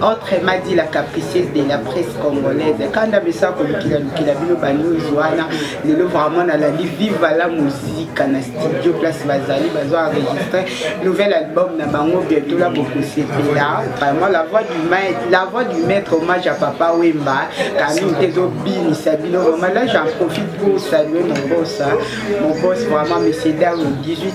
Entre Madi la capricieuse de la presse congolaise kanda mesa kolukila lukila bino banews wana lelo vraiment nalandi viva la muzika na studio place bazali bazo enregistre nouvel album na bango bientôt la bokosepela vraiment la voix du maître la voix du maître hommage à papa wemba kamine te ezobinisa bino vraiment là j'en profite pour saluer mon boss mon boss vraiment monsieur dame 18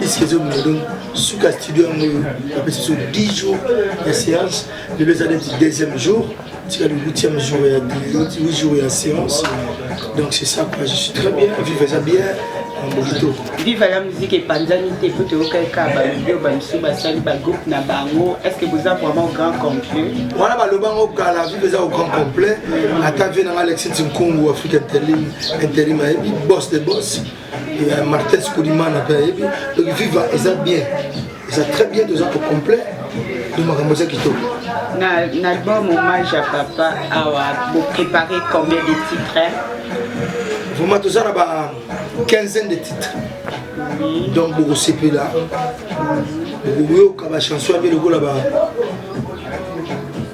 isi ezobima donc suka studio yango oyo apesi biso 10 jours ya séance lelo eza neti deuxième jour tika le huitième jour ya 8 jours ya séance donc c'est ça quoi je suis très bien vive eza bien mobito viva ya muziki epanzani te mpo toyoka eka bavideo bamosusu basali bagroupe na bango est ce que boza vraiment grand complet wana baloba yango kala viva eza au grand complet ata vie nanga alexis nkungu afrique interim ayebi boss de boss euh, martin sikolimana mpe ayebi donc viva eza bien eza très bien toza ko complet donc makambo eza kitoko na album hommage ya papa awa boprépare combien de titre vraiment toza na ba quinzaine de titre donc bokosepela bokoyoka bachanson ya mpe lokola ba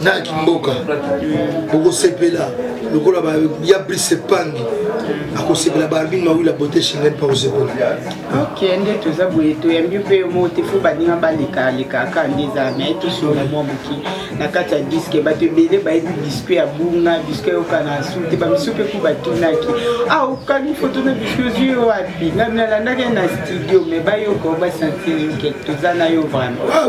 na kimboka okosepela lokola ya brise epangi akosepela baarbine mawila bote shengen mpa kosepela ok nde toza boye toyambi mpe mo te fo baninga balekaleka kaka nde eza mai tosola mwa moke na kati ya diske bato ebele bayebi biscuit ya bunga biscuit yokana su te bamisu mpe ku batunaki ah okani foto na biscuit ozwi yo wapi nga nalandaki na studio mai bayoka basanti toza na yo vraiment ah,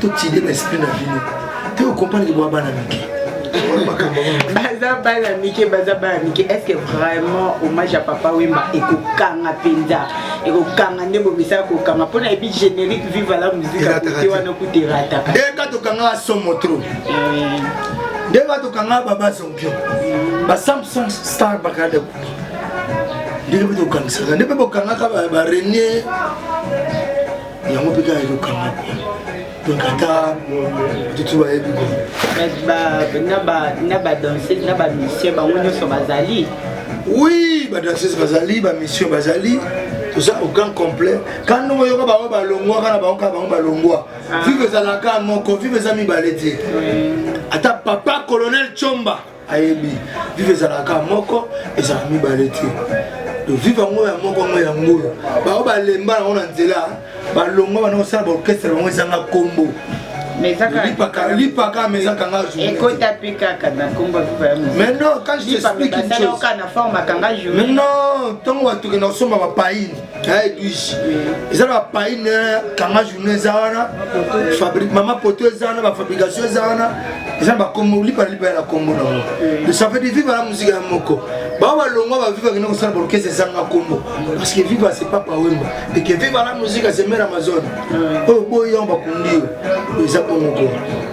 totide ba esprit na bino te okompanaki bwa bana mike baza bana mike baza bana mike est ce que vraiment hommage ya papa wemba ekokanga mpenza ekokanga nde bomisala kokanga mpo na yebi générique viva la musique akote wana kuta erataka nde ka tokangaka somo trop eh. nde ka tokangaka baba zompio ba samsung star bakada kubi ndenge mpe tokangisaka nde mpe bokangaka barenie yango mpe kaka ezokanga kuna donc ata tutu bayebi ko na badanseuse na bamisien bango nyonso bazali oui badanseuse bazali bamisien bazali toza aucun complet ka ndongo oyoka bango balongwaka na bango kaka bango balongwa ah. vive ezalaka moko vive eza mibale te ata papa colonel chomba ayebi vive ezalaka moko ezala mibale te vive yango ya moko yango yango oyo bango balemba yango na nzela balongwa bana kosala baorkestre bango ezanga nkombo lipaka mais ezaka nga journeekota mpe kaka na nkombo mais non quand je t'explique une chose na forme akanga journée mais non ntango bato kenda kosomba bapaine edwige eh, eza na bapaine eh, kanga journe eza wana mama poto eza wana bafabrication eza wana eza na bakombo lipana lipana na kombo na ngo esafeti viva na muzika ya moko bao balongwa baviva kende kosala baorkestre ezanga kombo parce que viva c'est papa wemba et que viva la musique c'est mère amazone oyo boyango bakundi yo eza bongo koo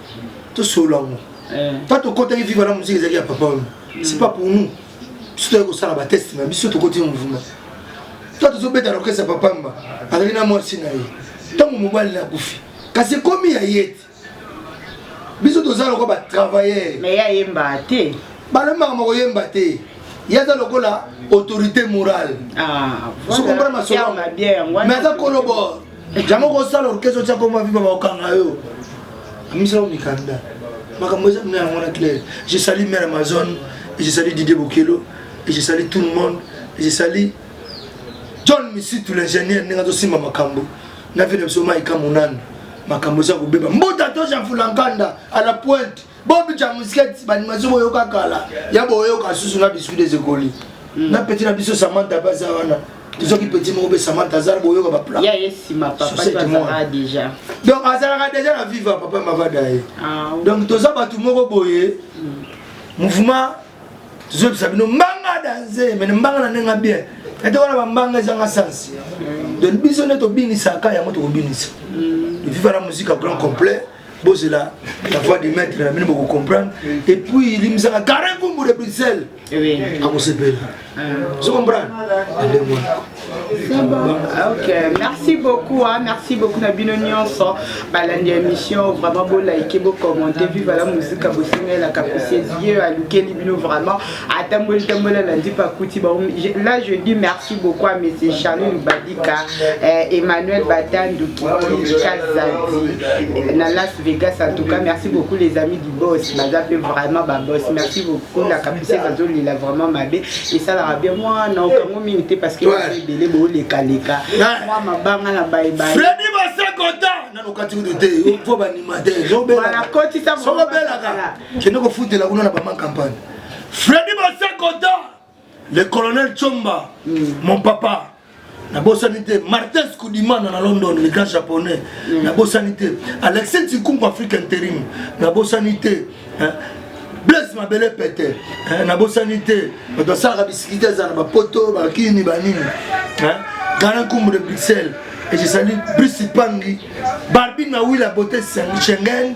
tosolola yango eh. ta tokotaki viva na moziki ezalaki ya papa wana hmm. c'est pas pour nous biso toyaki kosala bateste na biso tokoti mouvement ta tozobeta na orkestre ya papa mba azali na mwasi na ye ntango mobali na kufi kasi ekomi ya ye te biso toza lokola batravailleur mais ye ayembaka te balembaka makoyemba te ye aza lokola autorité morale ah, sokomprana masolo mais aza kolobor Jango ko sala orchestre tia komba viva ba okanga yo. Amisa o mikanda. Makambo eza kuna yango na clair. Je salue mère Amazon, et je salue Didier Bokelo, et je salue tout le monde, et je salue John Misitu l'ingénieur ndenge azo simba makambo. Na vile biso mai kamonana. Makambo eza kobeba. Mbuta to Jean Fulankanda à la pointe. bobi ja musika ti banimation boyoka kala ya boyoka susu na biscuit des ekoli hmm. na peti na biso samanta mpe aza wana tozoki peti moko mpe samanta aza boyoka baplaisdonc azalaka deja na viva papa mavada ye ah, donc toza bato moko boye hmm. mouvement tozobisa bino mbanga danze mene mbanga na ndenge bien ete wana bambanga ezanga sense hmm. donc biso nde tobinisaka yango tokobinisa viva la musique grand complet bozela la voix de maître na bino bokocomprendre et puis limzaka karin kumbu de bruxelles akosepela ozocomprendre ndenge wana Ah, ok, merci beaucoup, hein. merci beaucoup na bino nyonso balandi émission vraiment bo like bo commenter vive la musique bosengela kapesi Dieu alukeli bino vraiment atamboli tamboli alandi pakuti bango là je dis merci beaucoup à monsieur charlin badika euh, emmanuel batandu kiki kazadi na las vegas en tout cas merci beaucoup les amis du boss baza mpe vraiment baboss merci beaucoup la capucine azolela vraiment mabe esalaka bien mwana okango mingi te parce que ebele boolekaleka mwa mabanga na bayebaye nakotisa sokobelaka kende kofutela kuna na bama campagne Freddy Basakoda, le colonel Chomba, mm. mon papa. nabosani te martins kudimana na london le grand japonais mm. nabosani te alexis ntikumbu afrique interim nabosani te blaise mabele pete nabosani te bato asalaka bisikiti ezala bapoto bakini banini gana nkumbu de bruxelles ezali brisi pangi barbine mawila bote schengen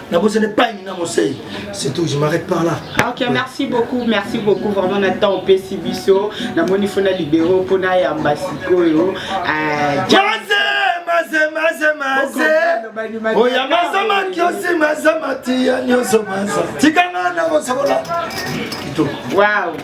nakozala epaini na mosei c'est tout je m'arrête par là ok merci beaucoup merci beaucoup vraiment na temps opesi biso namoni fo na libero mpo nayamba sikoyo oya maza makiosi maza matiya nyonso maza tikanga na kosokola kitoko wow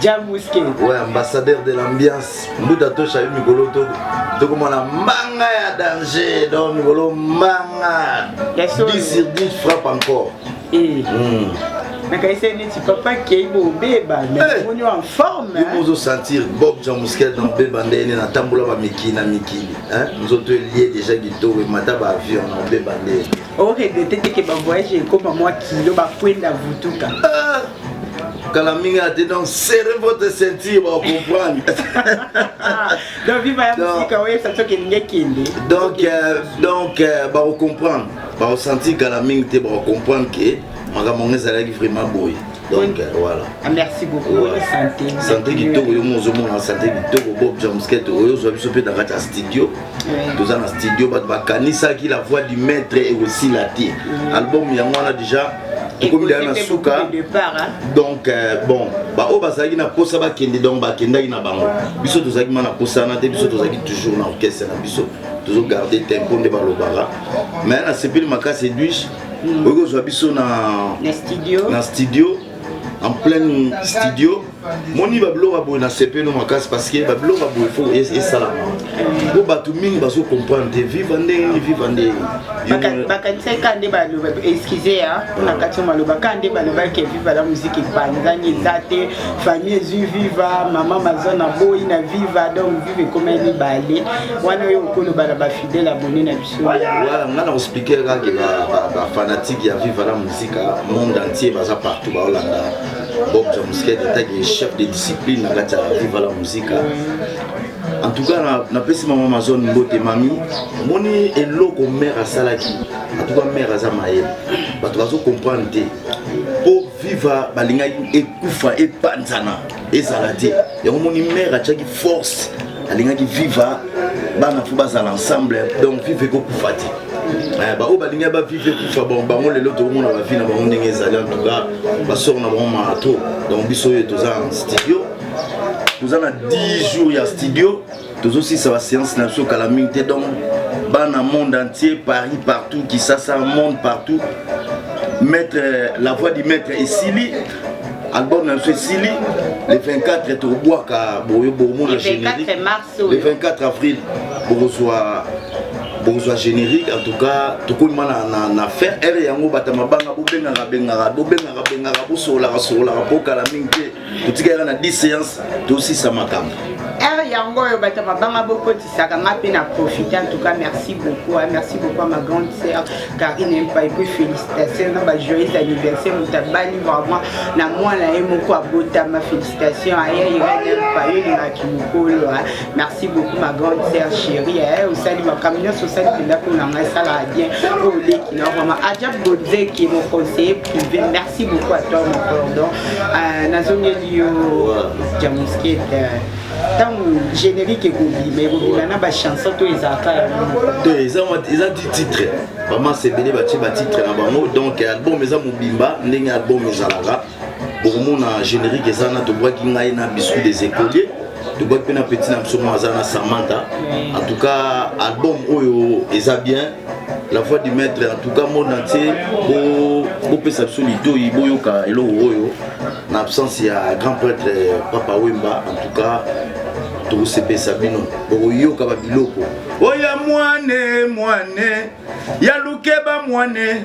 Jabuske. Ouais, ambassadeur de l'ambiance. Mbuta tosha yo mikolo to tokomona mbanga ya danger. Donc mikolo mbanga. Ya solo. 10 sur 10 frappe encore. Eh. Mm. nakaisa neti papa kei bobeba namoni en forme ozo sentir bob jean muskel na obeba ndene natambola bamikili na mikili nzoto elie deja kitoko emata baavion na obeba ndene o regrette te ke ba voyage ekoma mwa kilo ba kwenda vutuka ah! kala mingi ate donc serre votre ceinture ba comprendre donc viva ya musika oyo ça toke ninge kende donc euh, donc euh, ba comprendre ba sentir kala mingi te ba comprendre que makambo yango ezalaki vraiment boye donc euh, voilà ah, merci beaucoup bonne santé santé kitoko yo mozo mona santé kitoko bob jamsket oyo ozwa biso mpe na kati ya studio toza na studio bato bakanisaki la voix du maître ekosila te mm. album yango wana déjà tokomi deya na suka donc euh, bon baoyo bazalaki na mposa bakende donc bakendaki na bango biso tozalaki ma na mposa wana te biso tozalaki toujours na orchestre na biso tozogarde tempo nde balobaka mais nasepeli makasi edwige mm. okoki kozwa biso na, na studio, na studio en pleine studio moni babiloko ya boye na sepeno makasi parce que babiloko ya boye fo esalama mpo bato mingi bazocomprendre te viva ndenge nini viva ndenge bakanisaki ka nde baloba excuse ya ah, mpona kati ya maloba ka nde balobaki ya viva la muziki epanzani eza te famille ezwi viva mama maza na boyi na viva donc viva ekomai mibale wana oyo okoloba na bafidele abone na biso Voilà, nga na expliquer kaka ke ba fanatique ya Viva la Musica monde entier baza partout ba Hollanda. Bob Jamusket etaki chef de discipline na kati ya Viva la Musica. En tout cas na napesi mama Amazon mbote mami moni eloko mère asalaki. En tout cas mère aza mayele. Bato bazo comprendre te. Po Viva balingaki ekufa epanzana. ezala te yango moni mare atiaki force alingaki viva bana fo bazala ensemble donc viva ekokufa te eh, baoyo balingi bavive ekufa bon bango lelo tokomona bavi na bango ndenge ezali antuka basor na bango maa trop donc biso oyo toza en studio toza na 10 jours ya studio tozosisa baseance na biso kala mingi te donc bana monde entier paris partout kisasa monde partout maître euh, la voix du maître esili album na biso esili le 24 tokobwaka boyo bomona générique le 24 avril bokozwa bokozwa générique en tout cas tokomima na, na, na fin heure yango bata mabanga bobengaka bengaka bobengaka bengaka bosololaka sololaka mpo kala mingi te totikali kaka na 10 séance tosisa makambo heure yango oyo bato ya mabanga bokotisaka nga mpe na profite en tout cas merci beaucoup hein. merci beaucoup à ma grande sœur Karine Mpa et puis félicitations na ba joyeux anniversaire moto abali vraiment na mwana ye moko abotama félicitations aya Irène Mpa yo elingaki mokolo hein. merci beaucoup ma grande sœur chérie hein. osali makambo nyonso osali mpenza mpo na ngai esalaka bien oyo oleki na vraiment ajab bodzeki mon conseiller Merci beaucoup à toi mon pardon. Euh, nazongeli yo Jamusket. Euh, ntango générique ekobima ekobima na bachanson to ezalaka te eza ti titre bamasa ebele batie batitre na bango donc album eza mobimba ndenge album ezalaka bokomona générique eza na tobwaki ngai na biscuit des écoliers tobwaki mpe na petit na biso moko aza na samanta en tout cas album oyo eza bien la voix du maître en tout cas monde entier bopesa biso litoi boyoka eloko oyo na absence ya grand prêtre euh, papa wemba en tout cas tokosepesa bino bokoyoka babiloko oya mwane mwane ya lukeba mwane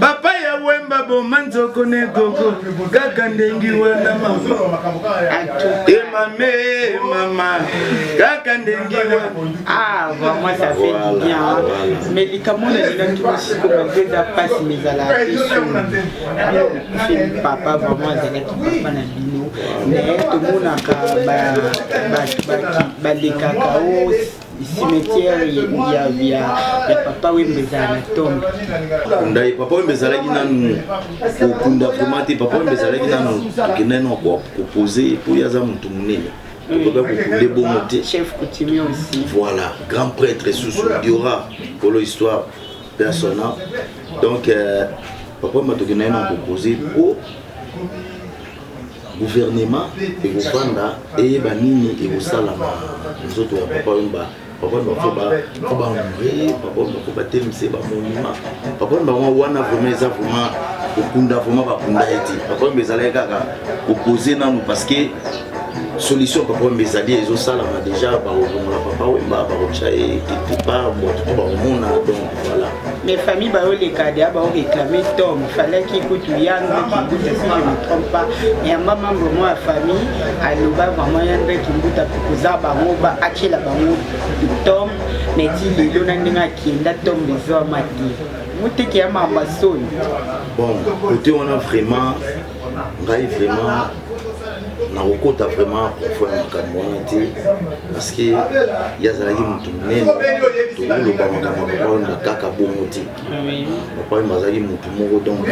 papa ya wemba boma nzoko ne gogo kaka ndengi wana emame mama kaka ndengi ah vraiment ça fait du bien mais likambo na lingaki mosiko malgré eza mpasi mais ezalaka feli papa vraiment azalaki papa na bino mais tomonaka balekaka o cimetière ya ya ya papa wembe ezala na tombe ndaye papa wembe ezalaki nanu kokunda vraimen te papa wembe ezalaki nanu tokenda no kopose mpo ye aza motu monene tokoka kokule bongo te voilà grand prêtre susu diora kolo histoire persona donc euh, papa wembe tokenda ye na kopose mpo Gouvernement ekovanda eyeba nini ekosala na nzoto ya papa Wemba. Papa Wemba faut ba faut ba honorer, papa Wemba faut ba telemisa ba monument. Papa Wemba wana vraiment eza vraiment kokunda vraiment bakunda ye te. Papa Wemba ezalaki kaka kopoze nanu parce que solution papa wemba ezali ezosalama deja bakobongola papa wemba bakotya ye quelque part bato to bakomona donc voilà Mais famille ba oleka de ba réclamer Tom, fallait qu'il coûte Yann Kimbuta si je ne me trompe pas. Et en maman vraiment la famille a loba vraiment Yann Kimbuta pour que ça ba ngo ba achela ba ngo Tom, mais dit le lona ndinga kienda Tom besoin mati. Muteke ya mama soni. Bon, côté on a vraiment ngai vraiment nakokota vraiment profo ya makambo wana te parceke ye azalaki motu monene tokoloba makambo ya papa wemba kaka bongo te papa wemba azalaki motu moko donc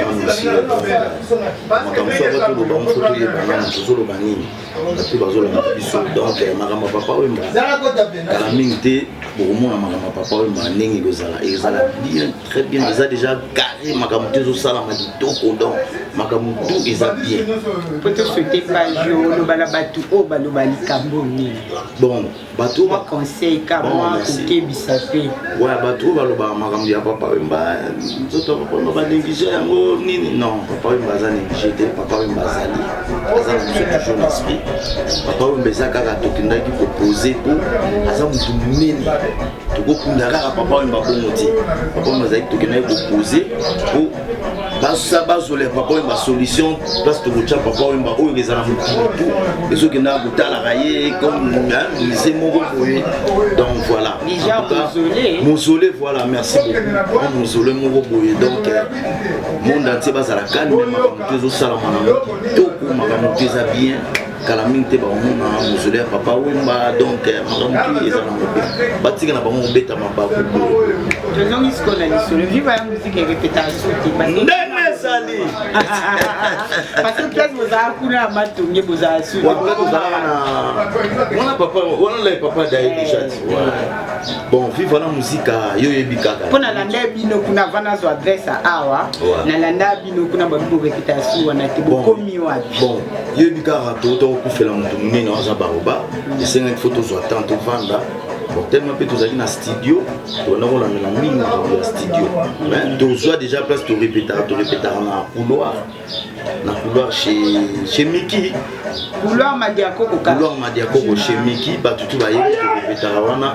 makambo so aka toloba moso toyebana moto ozoloba nini bato bazolanda biso donc eh, makambo ya papa wemba kala mingi te bokomona makambo ya papa wemba ndenge ekozala ezala bien très bien eza déjà carré makambo te ezosalama kitoko donc makambo tu eza bien poto souhaite page yo oloba na bato oyo baloba likambo nini bon bato mwa conseil ka mwa kokebisa mpe wa bato oyo balobaka makambo ya papa wemba nzoto ya papa wemba banéglige yango nini non papa wemba aza néglige te papa wemba azali aza na biso toujours na esprit papa wemba eza kaka tokendaki kopose mpo aza motu monene tokokunda kaka papa oyo babongo te papa oyo bazalaki tokendaki kopose po basa bazolela papa oyo basolution place tokotya papa oyo oyo ezala motutu ezokendaka kotalaka ye comme mise moko boye donc voilà mosole voilà merci beaucoup mosole moko boye donc euh, monde entier bazala calme makambo te ezosalama na moto toko makambo te eza bien kala mingi te bakomona mozole ya papa wemba donc eh, makambo tu eza na mobe batika na bango kobeta mabaku tozongi sikoyo na lisolo viva ya muziki erepeta soki ndenge ezali parce que place bozala kuna ya matonge bozala soki ozalaka na wana papa wana lai papa daye eh. déjà bon viva na muzika yo oyebi kaka mpo nalanda bino kuna vana azwa adresse awa nalanda kuna babi bobekita ya suwa na te bokomi wapi bon yebi kaka touta kokufela moto monene aza baoba esengaki fo tozwa temps tovanda bon tellement mpe tozali na studio tolanda kolandela mingi makambo ya studio mais tozwa déjà place torepetaka torepetaka na couloir na couloir chez miki couloir madiakoko couloir madiakoko chez miki bato tu bayebi torepetaka wana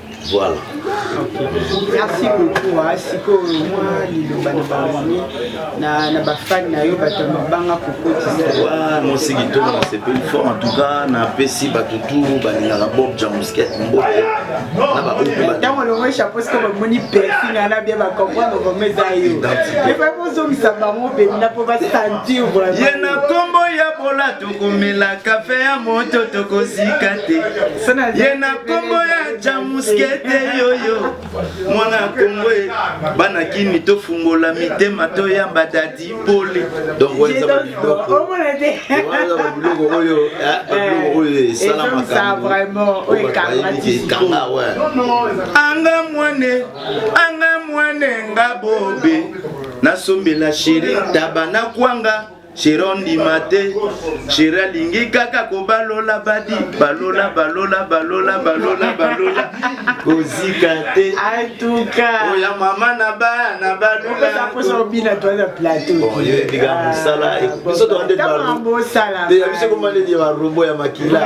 Voilà. Okay. Merci beaucoup. Hein. Sikoyo mwa liloba na bamami na, na bafani na yo bato mabanga kokotisa mosi kitoko nasepeli fort en tout cas napesi bato turu balingaka bob jamusket mbote na baotango longo chapeau siko bamoni persi na na bie bacomprendre vraimen eza yo epai bozongisa bango mpemina mpo basentir vraimen ye na nkombo ya bolati tokomela kafe ya moto tokozika te ye na nkombo ya jamuskete yoyo mwana kongo bana kini tofungola mitema toyamba dadi pole biloko oyo esalamakaekanga anga mwane anga mwane nga bobe nasombela sheri ntaba na kwanga Shira ondima te Shira alingi kaka kobalola badi balola balola balola balola balola kozika te atuka oya mama na bana balolaoyebika mosala biso toande biso komaledi ya barobo ya makila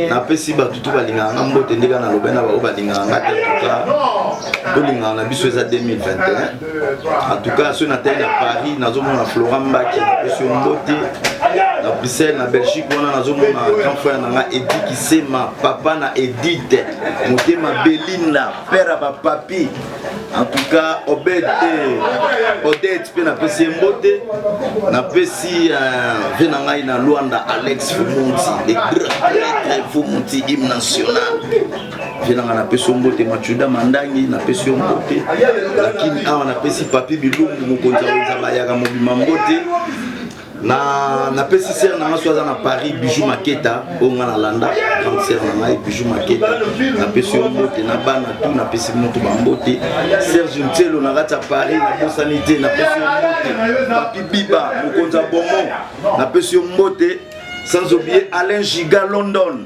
napesi bato surtout balingaka nga mbote nde kaka nalobai na bango balingaka nga te tuka tolingaka na biso eza 2021 antuka soki natali na paris nazomona flora mbaki napesi yo mbote na bruxelles na belgique wana nazomona grand frère na nga edi kisema papa na edite motema belinda père ya bapapi En tout cas, Obed et Odette, pe na pesi mbote, na pesi euh, vena ngai na Luanda Alex Fumunti, le grand prêtre Fumunti hymne national. Vena ngai na pesi mbote Machuda Mandangi, na pesi mbote. Lakini awa na pesi Papi Bilumbu mokonzi ya Nzamba yaka mobima mbote. na napesi sere na ngai so aza na paris bijou maketa oyo ngai nalanda grande sere na ngai bijou maketa napesi yo mbote na bana tu napesi moto bambote serge ncelo na kati ya paris nabosani te napesi yo mbote papi biba mokonzi ya bomon napesi yo mbote sans oublier alain giga london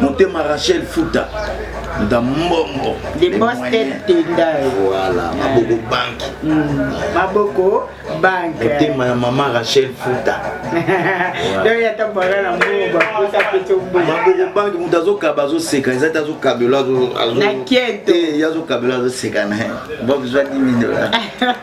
motema rachel futa nda mbongo de boston tendai voilà maboko banki mm, maboko banki motema ya mama rachel futa donc ata bana na mbongo bakosa mpe tombongo maboko banki moto azokaba azoseka eza te azokabela azokabela azoseka na ye bobzwa 10 dollars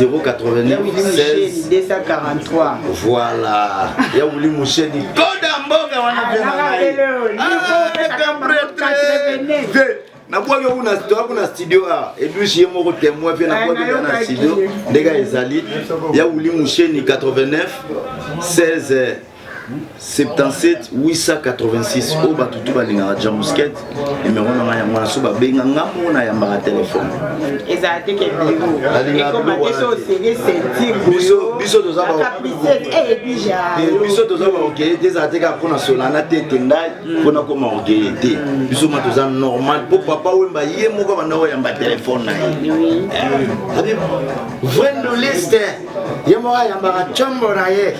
089 voilà ya wuli musheni koda mboka wana nabwaki okuna toakuna studio a edwish ye moko temoin mpe nabwaki nga na studio ndenge ezali ya wuli musheni 89 16 77 886 oyo bato tu balingaka jamusket nimero na ngai yango naso babenga nga moko nayambaka telefone ezala te ke birobiso toza baokeye te ezala te kaka mpona solana te te ngai mpona koma okeye te biso ma toza normal mpo papa wemba ye moko abanda koyamba telefone na ye vrai ndoliste ye moko ayambaka combo na ye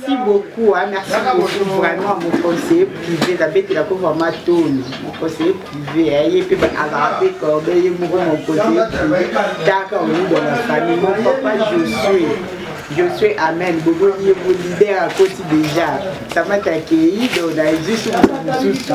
Merci beaucoup, hein, merci beaucoup vraiment mon conseiller privé nabetela ko vraiment toni mon conseiller privé ye mpe azala mpe corde ye moko mon conseiller privé taka oyuda na famille mon papa josue josue amen boboni ye bo leader akoti déjà samata akei donc na ezwi suku mosusu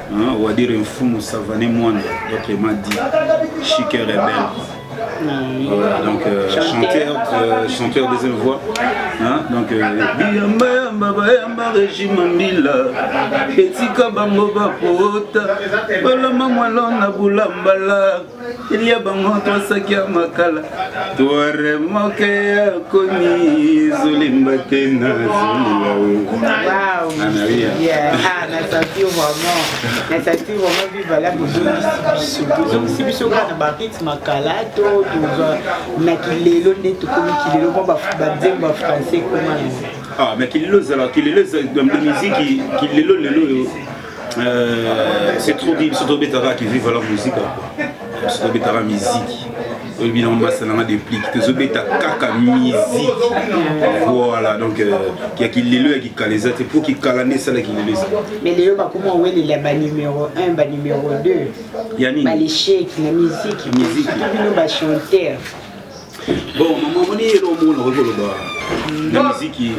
Hein, on va dire Mfumu Savané Mwanda, d'autres m'a dit Chic et Rebelle. Mm. Voilà, donc euh, chanteur, euh, chanteur deuxième voix. Hein, donc, euh, Biyamba yamba bayamba régime mbila etika bango bapota balama mwalona bulambala Elia bango tosaki ya makala tuare moke ya komi zolemba te na zolibazongisi biso kaka na barit makala to tozwa na kilelo nde tokomi kilelo mpo banzembo ya français ekoma na ah, mais kilelo ezalaka kilelo miziki kilelo lelo oyo Euh, c'est trop dit biso tobetaka ki viva la musica biso tobetaka miziki oyebi nango mbasa nanga deplique tozobeta kaka miziki voilà donc euh, ya kilelo ya kikala eza te mpo kikala nde esala kilelo eza mais lelo bakoma owelela banumero 1 banumero 2 ya nini balesheki na miziki miziki bino bachanteur bon mama omoni eloko moko nakoki koloba na miziki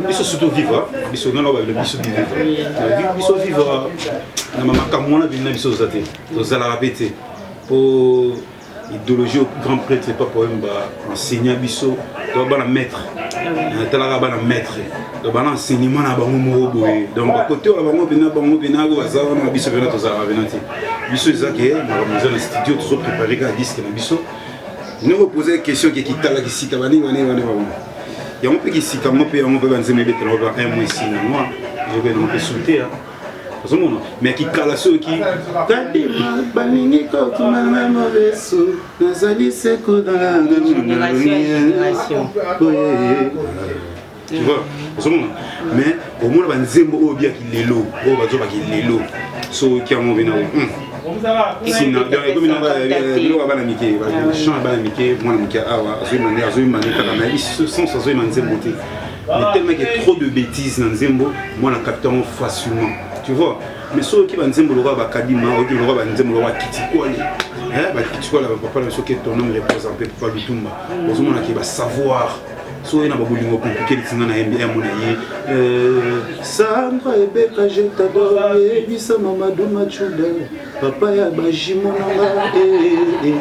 biso surtout vivre biso nano babilo biso vivre biso vivre na makambo wana bino na biso oza te tozalaka mpe te mpo idéologie au grand prêtre papa oyemba enseignant biso to bana maître natalaka bana maître bana enseignement na bango moko boye donc bakoteola bango mpena bango mpena oyo baza wana biso mpena tozalaka mpena te biso eza ke makambo eza na studio tozo prépare kaka diske na biso noko posa question ke kitala kisika banini banini wana bango yango mpe kisika yango mpe yango mpe banzemba ebetela ngo ba un mois esi na moi yoka yango mpe souter ozomona me kikala soki kadima balingi kokima na mobesu nazali sekodanga na monaoye tu vois ozomona mais omona banzembo oyo biaki lelo oyo bazobaki lelo soki yango bena sinabiloko bana mike chan ya bana mike mwana moke awa azoyemane azoyemane kaka na sens azoyema nzembo te mais tellement ke trop de bêtises na nzembo mwana capteur yango facilement tu vois mais soki banzembo lokola bakadima oyoki lokola banzembo lokola kitikwale bakitikwale bapapa na biso ke tonome repose mpe papa lutumba ozomona ke basavoir so oye na babolingo komplike lisinga na yembi yambo na ye euh, sandra ebeka je tador yebisa mamadu machuda papa ya bajimo na nga eh, eh.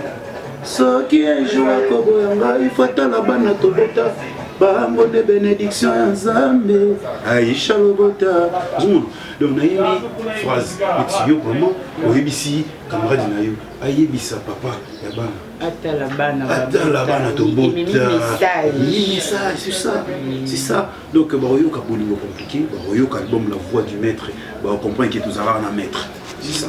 soki ejour akoboya ngai fatala bana tobota bango nde benediction ya nzambe aisha lobota zuma donc nayebi phrase eti yo vraiment oyebisi camarade na yo ayebisa papa ya bana atala bana atala bana tobotaaisasa donc bakoyoka bolingo komplike bakoyoka album la voix du maître bakocomprendre ke tozalaka na maître sisa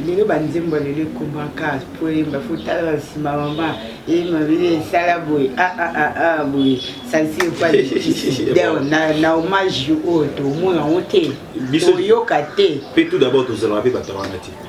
lelo banzembo lelo ekomaka mpo eyemba fotala na nsima mama eyemba bile esala boye aa ah, ah, ah, boye salisi epaideo na hommage oyo tomona yango te toyoka te mpe tout d'abord tozalaka mpe bato wana te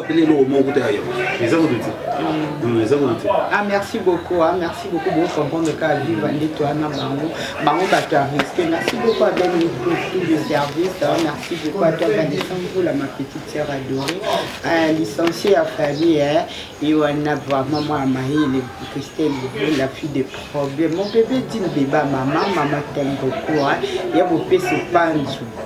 apele eloko moko kuta ya yango eza kutu te mm. eza kutu te ah merci beaucoup ah merci beaucoup bo comprendre ka viva nde toi na bango bango bato ya respect merci beaucoup à ben pour tout le service ah, merci beaucoup à toi Vanessa Mvula ma petite sœur adorée ah, licenciée ya famille hein et on a vraiment moi Maïle Christelle la fille des problèmes mon bébé dit bébé maman maman t'aime beaucoup hein ya bopesi panzu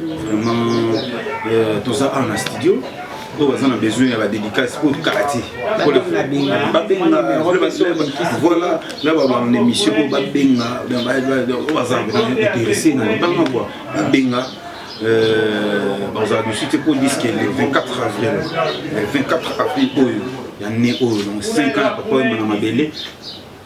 Vraiment, euh, tout ça en studio. oyo baza na besoin ya badédicace oyo kala te babengavoila na babana émission oyo babenga oyo baza intéressé na libanga kua babenga bazala dusu te mpo diske le 24 avril le 24 avril oyo ya ne oyo donc 5 ans ya papa oyema na mabele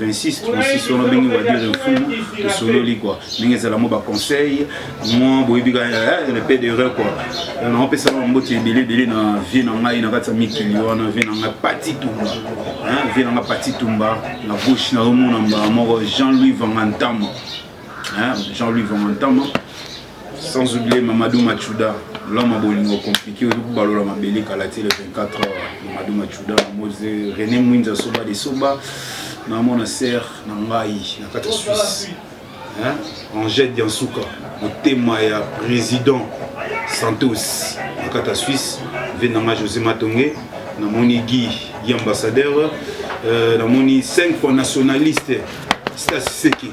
26 36 wana ndenge wadire mfumu tosololi kua ndenge ezala mwa baconseil mwa boyebi ka eh, eh, pe d'erreur kua eh, naopesa na bamboti ebele ebele na vie na ngai na kati ya mikili wana vie na ngai pati tumba vie na ngai pati tumba na gauche naomona mbala moko jean louis vangantama jean louis vangantama Sans oublier Mamadou Machuda, l'homme à Bolingo compliqué, au bout balola ma belé kalaté le 24 heures, Mamadou Machuda, Mose, René Mouinza Soba de Soba, na mon sœur na ngai na kati Suisse. Hein? Angèle Diansuka, motema ya président Santos na kati Suisse, venanga José Matongue, na moni Guy, Guy ambassadeur, euh, na moni 5 fois nationaliste, Stas Seki.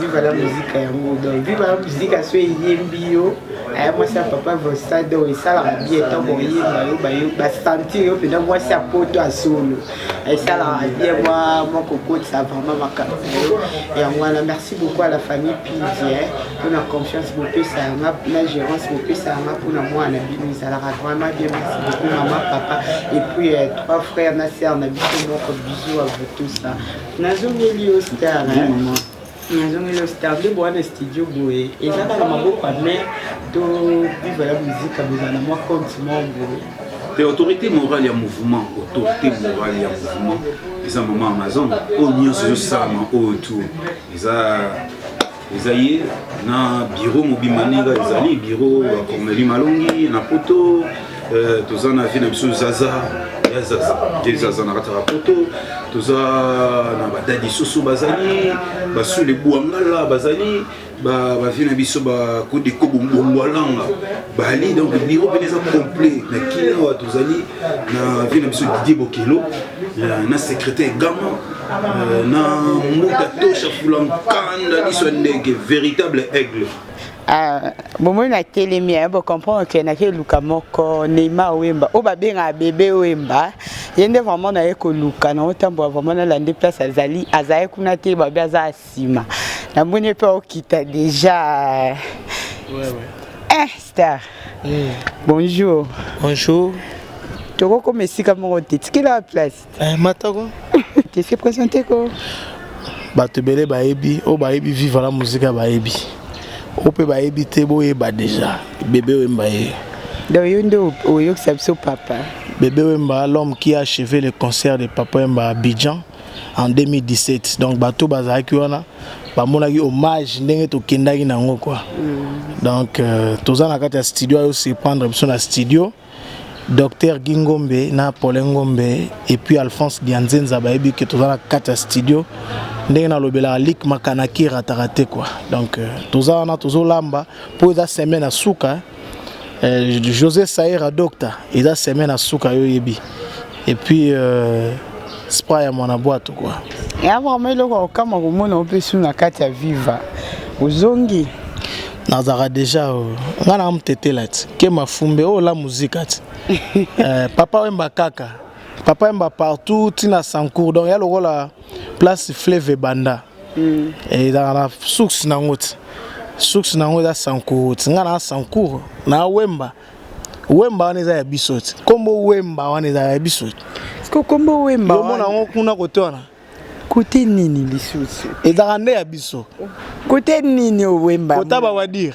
viva la musique yango donc viva la musique aso eyembi yo aya mwasi ya papa vosa donc esalaka bien ntango oyemba yo bayo basentir yo mpenza mwasi ya poto ya solo esalaka bien mwa mwa kokotisa vraiment makambo na yo yango wana merci beaucoup à la famille pidi mpona confiance bopesa yanga na gérance bopesa yanga mpona mwana na bino ezalaka vraiment bien merci beaucoup mama papa et puis euh, trois frères na sœur na biso moko bisous à vous tous nazongeli yo star mama nazongeli yo star nde boa na studio boye eza kaka maboko ya mare to viva ya muzika bozala na mwa compte moko boye te autorité morale ya mouvement autorité morale ya mouvement eza mama amazon oyo nyonso ezosalama oyo tour eza eza ye na biro mobimba ndenge ezali biro ya corneli malongi na poto euh, toza na vie na biso zaza ya zaza te zaza na kati ya poto toza na badadi susu bazali basule bwangala bazali bavie na biso bakodeko bombongwalanga bali donc biro mpene eza complet na kina awa tozali na vie na biso didier bokelo euh, na secrétaire gama euh, na mbuta tosha fulankanda liso ya ndege véritable aigle ah, bomoi natelemi eh, bocomprendre ke nake eluka moko neymar wemba oyo babengaka bebe wemba ye nde vraiment naye koluka naotambola vraiment nalandi place azali azali kuna te babi aza Sima. Na moni pe okita deja. Ouais ouais. Eh star. Mm. Bonjour. Bonjour. Toko comme esika moko te. Tikela place. Eh matako. Te se présenter ko. Bato ebele bayebi, oyo bayebi viva la muzika bayebi. Oyo mpe bayebi te boyeba deja. Bebe oyemba ye. Donc yo nde oyokisa biso papa. Bebe Wemba, l'homme qui a achevé le concert de Papa Wemba à Abidjan. en 2017 donc bato bazalaki wana bamonaki hommage ndenge tokendaki na yango quoi mm. donc euh, toza na kati ya studio ayo surprendre biso na studio docteur Guy Ngombe na Paulin Ngombe et puis Alphonse Dianzenza bayebi que toza na kati ya studio ndenge nalobelaka lik makanaki erataka te quoi donc euh, toza wana tozolamba mpo eza semaine ya suka Euh, José Saïra Docta, il a semé na suka yo yebi. Et puis euh, spray à mon boîte quoi. Et avant mais le quoi kama ko mona on peut sous na kati ya viva. Ozongi. Nazara déjà euh, nga na mtete là. Ke mafumbe oh la musique at. Euh, papa wemba kaka. Papa wemba partout tina sankour. Donc ya lokola place fleuve ebanda mm. ezalaka na source nango ti source nango eza sancour ti ngai na sancour na wemba wemba wana eza ya biso ti nkombo wemba wana eza ya biso ti nkombo wemba omona yango kuna kote wana kote nini lisusu ezalaka nde ya biso kote nini owemba kota bawadire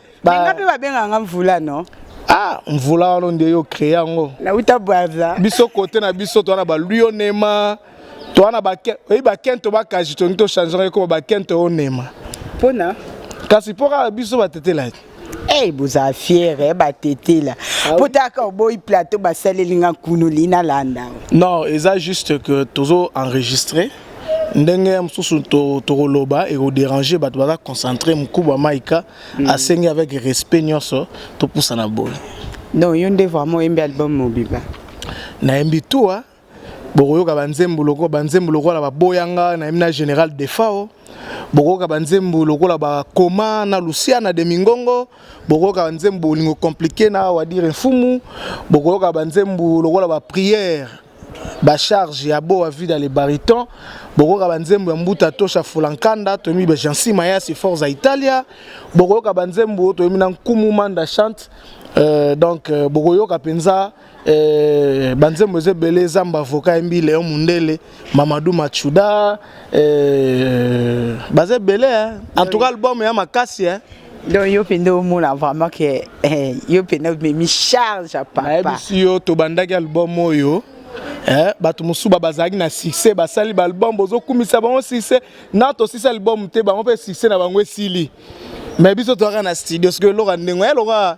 Ba... Nga mpe babenga nga mvula no. Ah, mvula wana nde yo créer yango. Na uta bwaza. Biso kote na biso to na ba luyonema. To na ba oyi ba kento ba kaji to nto changer ko ba kento onema. Pona kasi mpo kaka biso batetela te Hey, eh, boza fiere eh, batetela ah mpo taka oboyi plateau basaleli nga nkunu lina landa non eza juste que tozo enregistre ndenge ya mosusu tokoloba ekoderange bato baza concentre mokuba maika mm. asengi avec respect nyonso topusana boye donc yo nde vraiment oyembi album mobimba nayembi tua bokoyoka banzembo lokola banzembo lokola baboyanga nayembi na général defao bokoyoka banzembo lokola bakoma na luciana de mingongo bokoyoka banzembo bolingo komplike na wadire mfumu bokoyoka banzembo lokola bapriere ba charge ya boa vida le bariton bokoyoka banzembo ya mbuta tosha fulankanda toyebi ba jansi mayasi forza italia bokoyoka banzembo toyebi na nkumu manda chante euh, donc euh, bokoyoka mpenza euh, banzembo eza ebele zamba avoka yembi leon mundele mamadou machuda euh, baza ebele en tout cas album ya makasi eh. donc yo mpe nde omona vraiment ke eh, yo mpe nde omemi charge ya papa nayebisi yo tobandaki album oyo eh, bato mosusu ba bazalaki na succès basali baalbum bozokumisa bango succès na tosisi album te bango mpe succès na bango esili mais biso toyaka na studio soki eloko ya ndenge ya loka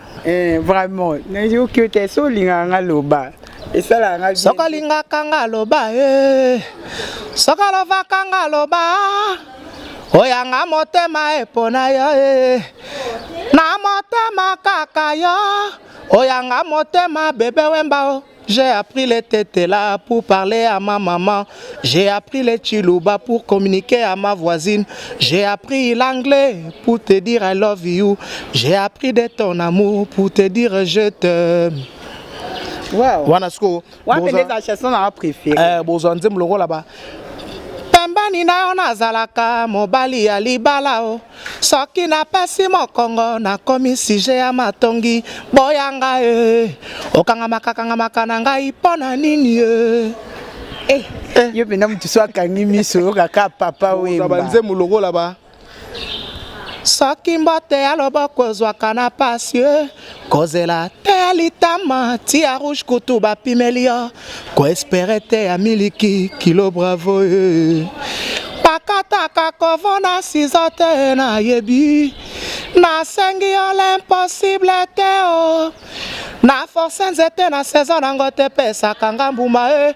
Eh, vraiment nayoki yo te so olingaka nga loba esalaka nga bien. soko alingaka nga loba eh. soko alobaka nga loba oyanga motema epona yo eh. na motema kaka yo oyanga motema bebe wemba o J'ai appris les tetela pour parler à ma maman. J'ai appris les chiluba pour communiquer à ma voisine. J'ai appris l'anglais pour te dire I love you. J'ai appris de ton amour pour te dire je t'aime. Wow. Wana siko. Wana pende za chanson na préféré. Eh bozo nzembo lokola ba. Pembani na yo nazalaka mobali ya libala o. Oh. Soki na pasi mokongo na komi sujet ya matongi boya nga eh. Okangamaka kangamaka na ngai mpo na nini eh. Eh, eh. yo mpenza moto so akangi miso oyokaka papa wemba banzembo lokola ba soki mbote ya loboko ezwaka na pasi eh. Kozela te ya litama ti ya rouge kutu bapimeli yo koespere te ya miliki kilo bravo e pakataka kovo na sizo te nayebi nasengi yo l'impossible te o na force nzete na saison nango te pesaka nga mbuma e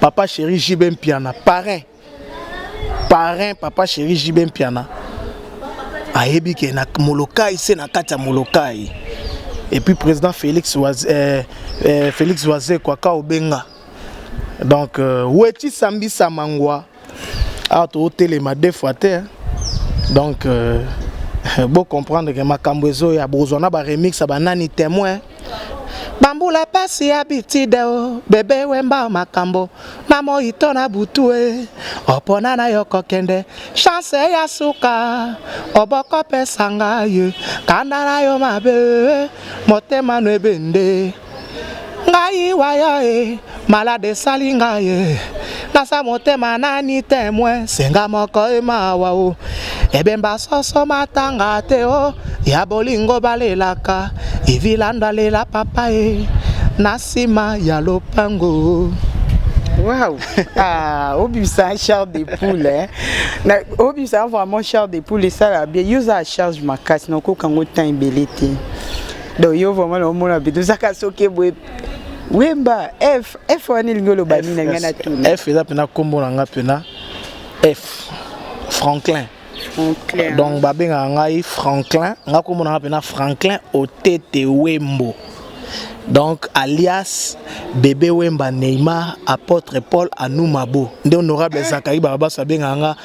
papa chéri JB Mpiana parrain parrain papa chéri JB Mpiana ayebi ke na Molokai se na kati ya Molokai et puis président Félix Waz, euh, euh, Félix Wazekwa Kaobenga donc euh, Weti Sambisa Mangwa awa totelema deux fois te donc euh, bo comprendre ke makambo ezoya bokozwa na baremix ya banani témoin bambula pasi ya bitide o bebe wemba makambo na moi to na butu e opona na yo kokende chance ya suka obokopesa ngai kanda na yo mabe motema no ebende ngai waya e malade esali ngai e nasa motema nani temwe senga moko emawa o ebemba soso matanga te o ya bolingo balelaka evilando alela papa e na nsima ya lopango Waouh Ah, obimisa un char de poule hein. Na obimisa vraiment char de poule esala bien. Yo oza charge makasi na okoka ngo temps ebele te. donc yo vraiment na omona bido zaka soki boye wemba f f wana elingi oloba nini na ngai na tuna f eza mpena nkombo na ngai mpena f franklin Franklin. donc babengaka ngai franklin ngai nkombo na ngai mpena franklin otete wembo donc alias bebe wemba neymar apôtre paul anoumabo nde honorable zakari barabas abengaka nga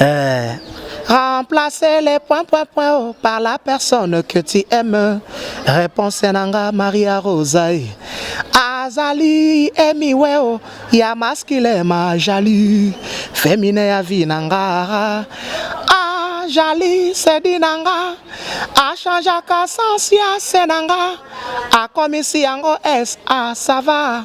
Eh. Remplacer les points, points, points oh, par la personne que tu aimes. Réponse Nanga Maria Rosaï. Azali emiweo oh, ya masculin ma jaloux. Féminin ya vie nanga. Ah, jali se dit nanga. A changeaka sens ya se nanga. Akomisi yango S. Ah, ça va.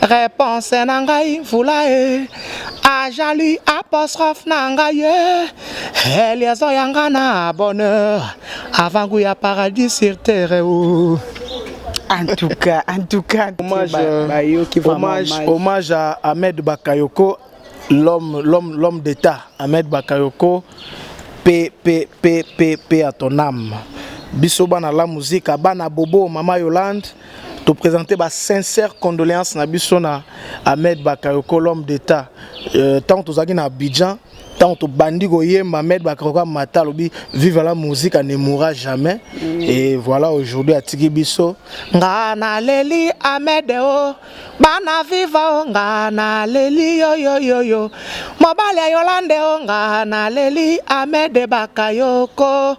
Réponse na ngai mvula e ajali apostrophe na ngai e eh, liaison ya nga na bonheur avant goût ya paradis sur terre o en tout cas en tout cas hommage euh, bayoki ba hommage hommage à Ahmed Bakayoko l'homme l'homme l'homme d'état Ahmed Bakayoko p p p p p à ton âme biso bana la musique bana bobo mama Yolande To présenter ba sincères condoléances na biso na Ahmed Bakayoko l'homme d'état. Euh, tant tozaki na Abidjan, ntango tobandi koyemba Ahmed Bakayoko mata alobi vive la musique ne mourra jamais mm. et voilà aujourd'hui atiki biso nga naleli Ahmed o oh, bana viva o oh, nga naleli yoyoyoyo mobali ya Yolande o oh, nga naleli Ahmed Bakayoko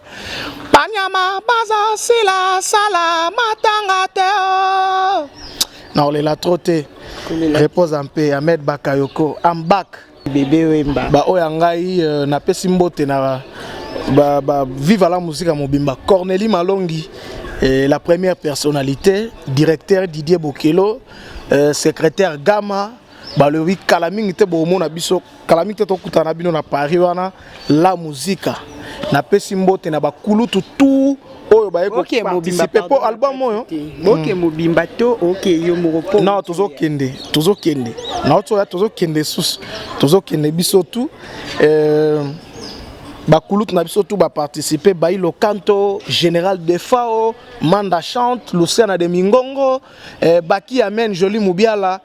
Banyama baza sila sala matanga te oh. Na olela trop te. Repose en paix Ahmed Bakayoko. I'm back. Bebe Wemba. Ba oya ngai euh, napesi mbote na ba, ba viva la musique mobimba Cornelie Malongi et la première personnalité directeur Didier Bokelo euh, secrétaire Gama balobi kala mingi te bomona biso kala mingi te tokutana na bino na paris wana la muzika napesi mbote na bakulutu tu oyo baye koparticipe mpo album oyo boke hmm. mobimba to oke yo moko mpo na tozokende tozokende na oto ya tozokende susu tozokende biso tu euh, bakulutu na biso tu baparticipe bai lokanto général defao manda chante luciana de mingongo eh, baki amen joli mobiala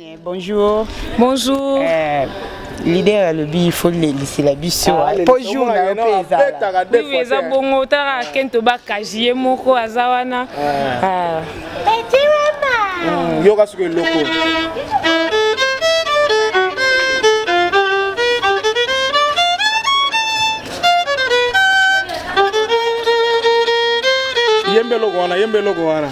Eh, bonjour. Bonjour. Eh, leader alobi il faut lelisela biso ah, po jour na yo mpe ezala oui eza bongo tala kento bakaji ye moko aza wana ah. Ah. Hmm, yoka soki eloko yembe eloko wana yembe eloko wana